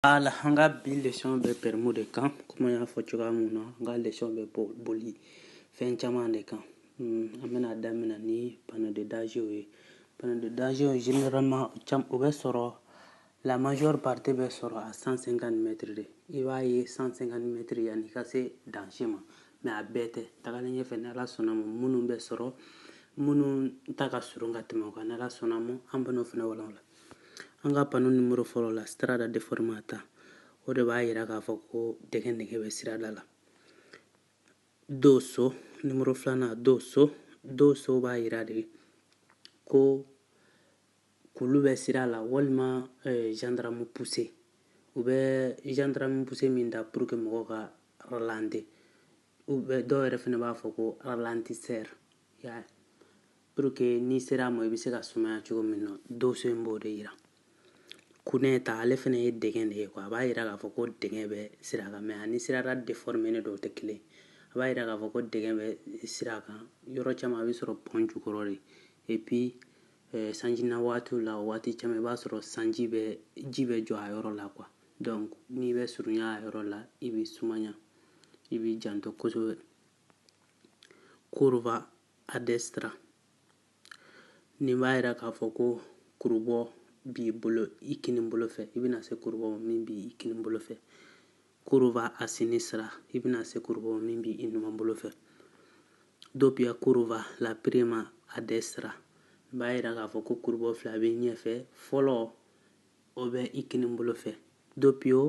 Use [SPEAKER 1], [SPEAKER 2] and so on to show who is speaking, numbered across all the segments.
[SPEAKER 1] Ala an ka bi lesɔn bɛ pɛrmu de kan komi n y'a fɔ cogoya min na an ka lesɔn bɛ boli fɛn caman de kan an bɛna daminɛ ni panneau de danger ye panneau de danger généralement o bɛ sɔrɔ la majeure partie bɛ sɔrɔ à cent cinquante mètres de i b'a ye cent cinquante mètres yanni i ka se danger ma mɛ a bɛɛ tɛ tagalen ɲɛfɛ ni ala sɔnna ma minnu bɛ sɔrɔ minnu ta ka surun ka tɛmɛ o kan ni ala sɔnna ma an bɛn'o fana walawala An ka panneau numéro fɔlɔ la Strada Deformata o de b'a jira k'a fɔ ko dɛgɛn dɛgɛn bɛ sirada la. Dosso numéro filanan Dosso Dosso b'a jira de ko kulu bɛ sira la walima eh, gendarme couché u bɛ gendarme couché min da pour que mɔgɔw ka ralentir u bɛ dɔw yɛrɛ fana b'a fɔ ko ralentisseur y'a ye pour que n'i sera a ma i bɛ se ka sumaya cogo min na dosso in b'o de yira cunetta ale fana ye dɛgɛn de ye quoi a b'a yira k'a fɔ ko dɛgɛn bɛ sira kan mɛ ani sirada déforménen dɔw tɛ kelen a b'a yira k'a fɔ ko dɛgɛn bɛ sira kan yɔrɔ caman a bɛ sɔrɔ pɔn jukɔrɔ de et puis eh, sanji na waatiw la o waati caman i b'a sɔrɔ sanji bɛ ji bɛ jɔ a yɔrɔ la quoi donc n'i bɛ surunya a yɔrɔ la i bɛ sumaya i b'i janto kosɛbɛ curva a destra nin b'a jira k'a fɔ ko kurubɔ b'i bolo i kinin bolo fɛ i bɛna se kurubɔ ma min b'i i kinin bolo fɛ curva a sinistra i bɛna se kurubɔ ma min b'i i numan bolo fɛ doppia curva la prima a destra nin b'a jira k'a fɔ ko kurubɔ fila bɛ ɲɛfɛ fɔlɔ o bɛ i kinin bolo fɛ doppio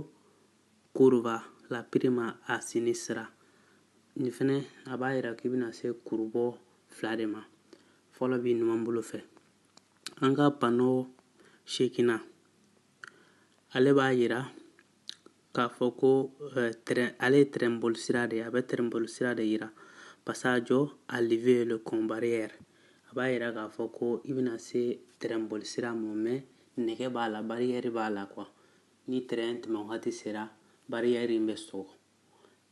[SPEAKER 1] Curva la prima a sinistra. Nin fɛnɛ, a b'a jira k'i bɛna se kurubɔ fila de ma. Fɔlɔ b'i numan bolo fɛ. An ka pano seginnan, ale b'a jira k'a fɔ ko eh, ale ye tɛrɛn bolisira de ye, a bɛ tɛrɛn bolisira de jira. Passaggio a livello con barriere. A b'a jira k'a fɔ ko i bɛna se tɛrɛn bolisira ma, mɛ nɛgɛ b'a la, bariyɛri b'a la kuwa. Ni tɛrɛn tɛmɛn wagati sera, bariyɛri in bɛ sɔgɔ.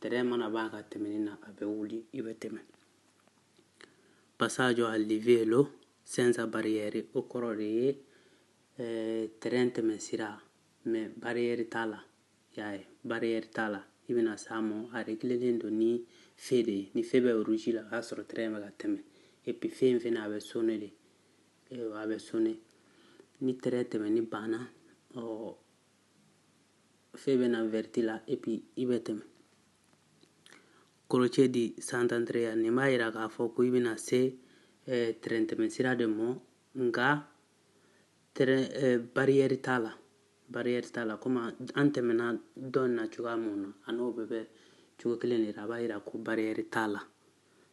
[SPEAKER 1] Tɛrɛn mana ban a ka tɛmɛni na, a bɛ wuli, i bɛ tɛmɛn. Passaggio a livello senza barriere o kɔrɔ de ye tɛrɛn tɛmɛn sira mɛ bariyɛri t'a la. Y'a ye, bariyɛri t'a la. I bɛna s'a ma, a réglélen don ni feu de ye. Ni feu bɛ rouge la, o y'a sɔrɔ tɛrɛn bɛ ka tɛmɛn. Et puis feu in fana, a bɛ sonner de. a bɛ sonner ni tɛrɛn tɛmɛni banna ɔ feu bɛ na vɛrɛti la epi i bɛ tɛmɛ croce di Sant'Andrea nin b'a yira k'a fɔ ko i bɛna se eh, tɛrɛn tɛmɛ sira de mɔ nka tɛrɛn eh, bariyɛri t'a la bariyɛri t'a la komi an tɛmɛna dɔ in na cogoya mun na a n'o bɛɛ bɛ cogo kelen de la a b'a yira ko bariyɛri t'a la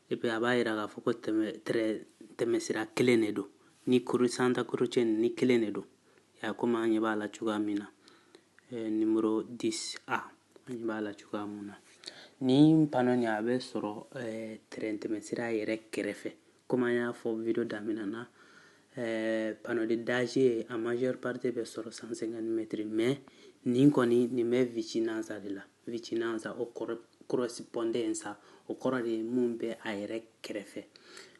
[SPEAKER 1] epi a b'a yira k'a fɔ ko tɛmɛsira kelen de don ni cro santa croce ni kelen de don ya komi an ɲɛ b'a la cogoya min na numéro 10 A an ɲɛ b'a la cogoya min na ni panneau nin a bɛ sɔrɔ tɛrɛn tɛmɛsira yɛrɛ kɛrɛfɛ komi an y'a fɔ video daminɛ na panneau de danger a majeure partie bɛ sɔrɔ 150 mɛtiri mɛ nin kɔni nin bɛ vicinanza de la vicinanza o corrispondenza o kɔrɔ de ye mun bɛ a yɛrɛ kɛrɛfɛ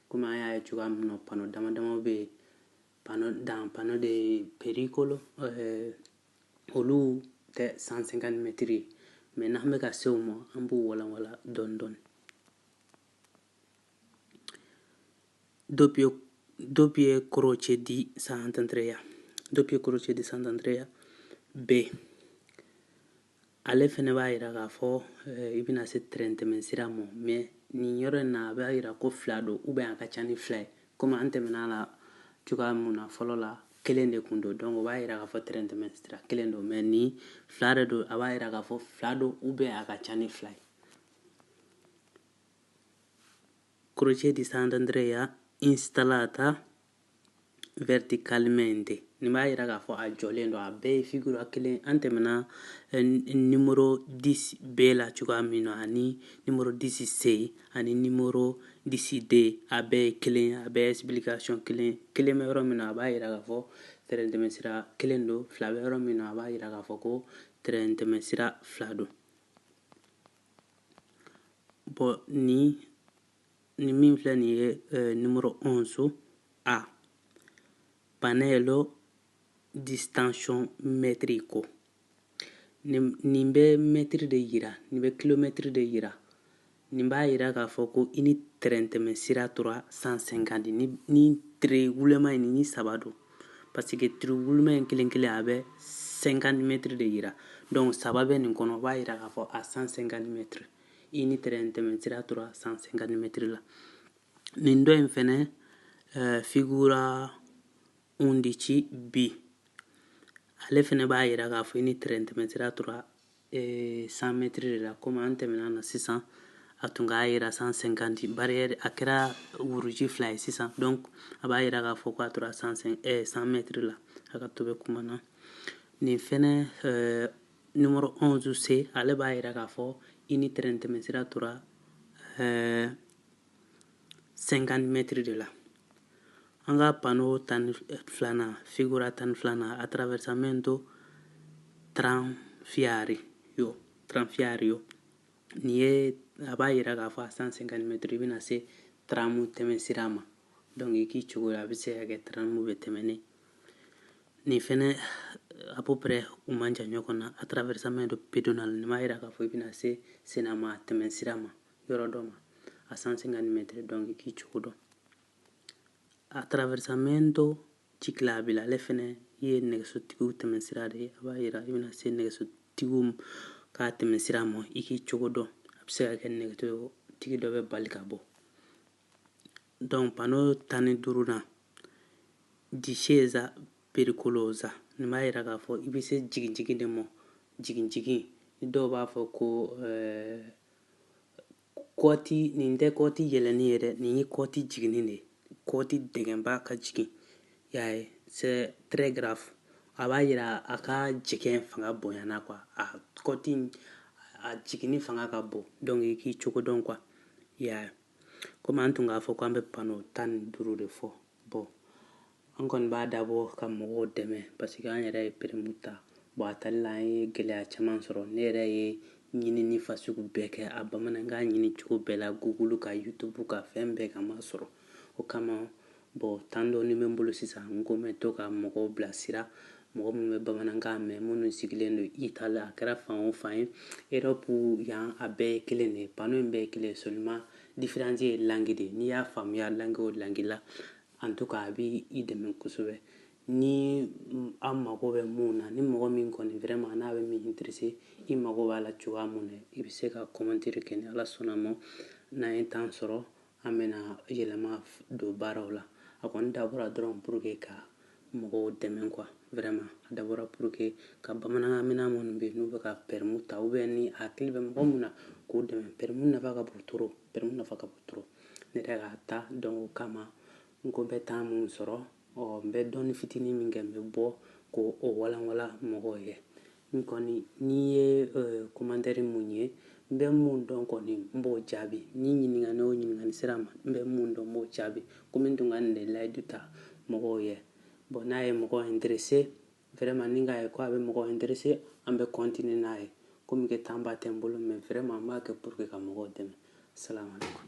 [SPEAKER 1] komi an y'a ye cogoya min na pano dama dama bɛ yen pano dan pano de pericolo eh, olu tɛ 150 mɛtiri ye mɛ n'an bɛ ka se o ma an b'u walanwalan dɔɔni dɔɔni doppio doppie croce di Sant'Andrea doppie croce di Sant'Andrea B ale fɛnɛ b'a yira k'a fɔ eh, i bɛna se tɛrɛn tɛmɛn sira ma mɛ nin yɔrɔ in na a b'a yira ko fila don ou bien a ka ca ni fila ye komi an tɛmɛna a la cogoya mun na fɔlɔ la kelen de kun don donc o b'a yira k'a fɔ tɛrɛn tɛmɛn sira kelen don mɛ ni fila de don a b'a yira k'a fɔ fila don ou bien a ka ca ni fila ye croce di Sant'Andrea installata verticalmente nin b'a yira k'a fɔ a jɔlen don a bɛɛ ye figura kelen an tɛmɛna nimoro 10 B la cogoya min na ani nimoro 10 C ani nimoro 10 D a bɛɛ ye kelen a bɛɛ ye explication kelen kelen bɛ yɔrɔ min na a b'a yira k'a fɔ tɛrɛn tɛmɛsira kelen don fila bɛ yɔrɔ min na a b'a yira k'a fɔ ko tɛrɛn tɛmɛsira fila don bon ni ni min filɛ nin ye euh, numéro 11 A pannello distanziometrico nin bɛ mɛtiri de yira nin bɛ kilomɛtiri de yira nin b'a yira k'a fɔ ko i ni tɛrɛntɛmɛ sira tora 150 ni ni tiiri wulenman in nin ni saba don parce que tiiri wulenman in kelen kelen a bɛ 50 mɛtiri de yira donc saba bɛ nin kɔnɔ o b'a yira k'a fɔ a 150 mɛtiri i ni tɛrɛn tɛmɛn sira tora 150 mɛtiri la nin dɔ in fɛnɛ uh, figura undici B ale fɛnɛ b'a yira k'a fɔ i ni tɛrɛn tɛmɛn sira tora eh, 100 mɛtiri de la komi an tɛmɛna na sisan a tun k'a yira 150 bariyɛri a kɛra wuruji fila ye sisan donc a b'a yira k'a fɔ ko a tora 100 eh, mɛtiri la a ka to bɛ kuma na nin fɛnɛ eh, numéro 11 C ale b'a yira k'a fɔ i ni tɛrɛn tɛmɛsira tora euh, 50 mètres de la an ka panneau tan filanan figura tan filanan attraversamento tranviario tranviario nin ye a b'a yira k'a fɔ a 150 mètres i bɛna se taramu tɛmɛsira ma donc i k'i cogo la a bɛ se ka kɛ taramu bɛ tɛmɛni Nin fɛnɛ à peu près u man jan ɲɔgɔn na attraversamento pedonale nin b'a yira k'a fɔ i bɛna se senma tɛmɛ sira ma yɔrɔ dɔ ma a 150 mètres donc i k'i cogo dɔn attraversamento ciclabile ale fɛnɛ ye nɛgɛsotigiw tɛmɛ sira de ye a b'a yira i bɛna se nɛgɛsotigiw ka tɛmɛ sira ma i k'i cogo dɔn a bɛ se ka kɛ nɛgɛsotigi dɔ bɛ bali ka bɔ Donc pano tan ni duurunan discesa pericolosa nin b'a yira k'a fɔ i bɛ se jigin jigin de ma jigin jigin ni dɔw b'a fɔ ko eh, kɔti nin tɛ kɔti yɛlɛni ye dɛ nin ye kɔti jiginni de ye kɔti dɛgɛnba ka jigin y'a ye c'est très grave a b'a yira a ka jigin fanga bonyana quoi a kɔti a jiginni fanga ka bon donc i k'i cogo dɔn quoi y'a ye komi an tun k'a fɔ k'an bɛ pano tan ni duuru de fɔ bɔn an kɔni b'a dabɔ ka mɔgɔw dɛmɛ paseke an yɛrɛ ye peremu ta bɔn a tali la an ye gɛlɛya caman sɔrɔ ne yɛrɛ ye ɲinini fasugu bɛɛ kɛ a bamanankan ɲini cogo bɛɛ la gugulu kan yutubu kan fɛn bɛɛ kan a ma sɔrɔ o kama Bon temps dɔɔni bɛ n bolo sisan n ko n bɛ to ka mɔgɔw bila sira mɔgɔ minnu bɛ bamanankan mɛn minnu sigilen don Italie a kɛra fan o fan ye Europe yan a bɛɛ ye kelen de ye panneau in bɛɛ ye kelen seulement différence ye langue de n'i y'a faamuya langue o langue la en tout cas a bɛ i dɛmɛ kosɛbɛ ni a mago bɛ mun na ni mɔgɔ min kɔni vraiment n'a bɛ min intéresser i mago b'a la cogoya mun na i bɛ se ka commentaire kɛ ni Ala sɔnna ma n'an ye temps sɔrɔ an bɛna yɛlɛma don baaraw la a kɔni dabɔra dɔrɔn pour que ka mɔgɔw dɛmɛ quoi vraiment a dabɔra pour que ka bamanankan mɛnna minnu bɛ yen n'u bɛ ka permu ta ou bien ni a hakili bɛ mɔgɔ min na k'o dɛmɛ permu nafa ka bon trop permu nafa ka bon trop ne yɛrɛ k'a ta donc o kama n ko n bɛ temps mun sɔrɔ ɔ n bɛ dɔɔni fitinin min kɛ n bɛ bɔ k'o walanwalan mɔgɔw ye N kɔni, ni n ye komantɛri mun ye, n bɛ mun dɔn kɔni, n b'o jaabi. Ni ɲininkani o ɲininkani sera n ma, n bɛ mun dɔn, n b'o jaabi. Komi n tun ka nin de layidu ta mɔgɔw yɛ. Bon n'a ye mɔgɔ interese, vraiment ni n k'a ye ko a bɛ mɔgɔ interese, an bɛ continuer n'a ye. Komi que temps ba tɛ n bolo mais vraiment n b'a kɛ pour que ka mɔgɔw dɛmɛ. Salam aleyikum.